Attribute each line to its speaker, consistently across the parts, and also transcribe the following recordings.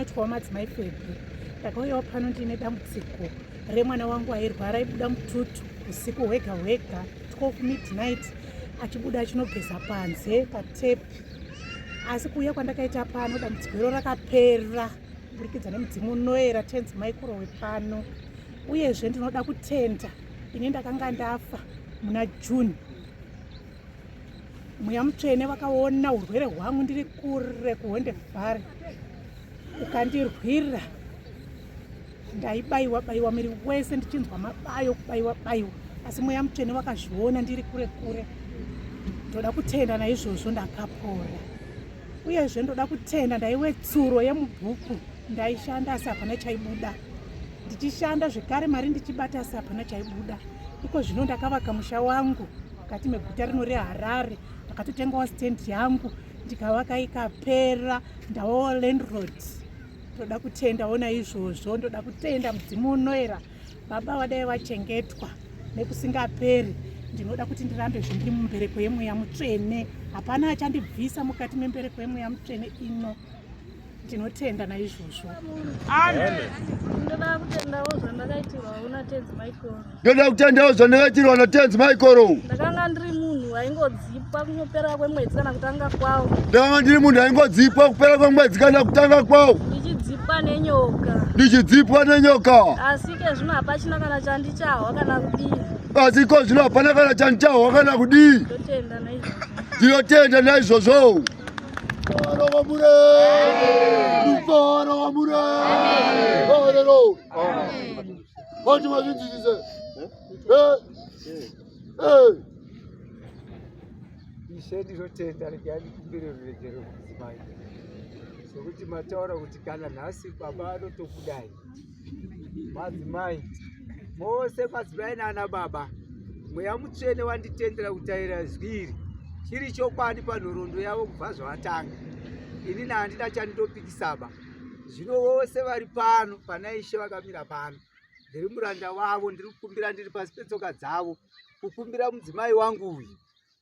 Speaker 1: Tyawa madzimai Febhi, ndakauyawo pano ndiine dambudziko remwana wangu airwara aibuda mututu usiku hwega hwega 12 midnight achibuda achinogeza panze patepi asi kuuya kwandakaita pano dambudziko iro rakapera kuburikidza nemudzimu unoera tenzi maikuro wepano uyezve ndinoda kutenda ini ndakanga ndafa muna june mweya mutsvene vakaona urwere hwangu ndiri kure kuhonde vhare ukandirwira ndaibayiwa bayiwa miri wese ndichinzwa mabayo kubayiwa bayiwa asi mweya mutsvene vakazviona ndiri kure kure ndoda kutenda naizvozvo ndakapora uyezve ndoda kutenda ndaiwe tsuro yemubhuku ndaishanda asi hapana chaibuda ndichishanda zvekare mari ndichibata asi hapana chaibuda iko zvino ndakavaka musha wangu mukati meguta rino reharare ndakatotengawo stand yangu ndikavaka ikapera ndawawo landroad ndoda kutenda ona izvozvo ndoda kutenda mudzimu unoera baba vadai vachengetwa nekusingaperi ndinoda kuti ndirambe zvindiri mumbereko yemweya mutsvene hapana achandibvisa mukati membereko yemweya mutsvene ino tinotenda
Speaker 2: naizvozvo ndoda
Speaker 3: kutendawo zvandakaitirwa natenzi maikoro ndoda kutendawo
Speaker 2: zvandakaitirwa natenzi maikoro ndakanga ndiri munhu
Speaker 3: aingodzipwa kupera kwemwedzi kana kutanga kwawo ndakanga ndiri munhu
Speaker 2: aingodzipwa kupera kwemwedzi kana kutanga kwawo ndichidzipwa nenyoka ndichidzipwa nenyoka asi ke zvino
Speaker 3: hapachina kana chandichahwa kana kudii asi ko zvino
Speaker 2: hapana kana chandichahwa kana kudii
Speaker 3: ndinotenda
Speaker 2: naizvozvo
Speaker 4: ishe ndinotenda regai ndikumbire ruregerero mudzimai sokuti mataura kuti kana nhasi baba anotokudai madzimai mose madzimai nana baba mweya mutsvene wanditendera kutaira zwi iri chiri chokwadi panhorondo yavo kubva zvavatanga ini nahandina chandinopikisaba zvino vose vari pano pana ishe vakamira pano ndiri muranda wavo ndiri kukumbira ndiri pasi petsoka dzavo kukumbira mudzimai wangu uyu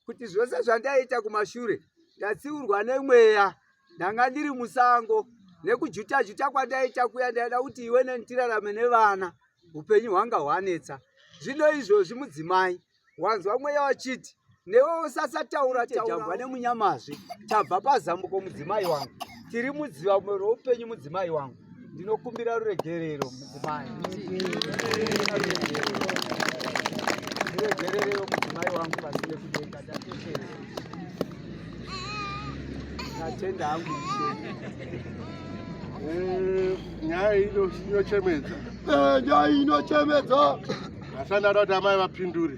Speaker 4: kuti zvose zvandaita kumashure ndatsiurwa nemweya ndanga ndiri musango nekujuta juta kwandaita kuya ndaida kuti iwe neni tirarame nevana upenyu hwanga hwanetsa zvino izvozvi mudzimai wanzwa mweya wachiti newe usasataura tajambwa nemunyamazve tabva pazambuko mudzimai wangu tiri mudziva roupenyu mudzimai wangu Ndinokumbira ruregerero mudzimai. Ruregerero mudzimai wangu vasine kudenga ndatekerera. Ndatenda hangu ishe. Eh,
Speaker 2: nyaya ino inochemedza. Eh, nyaya
Speaker 4: inochemedza. Asana
Speaker 2: kuti amai vapindure.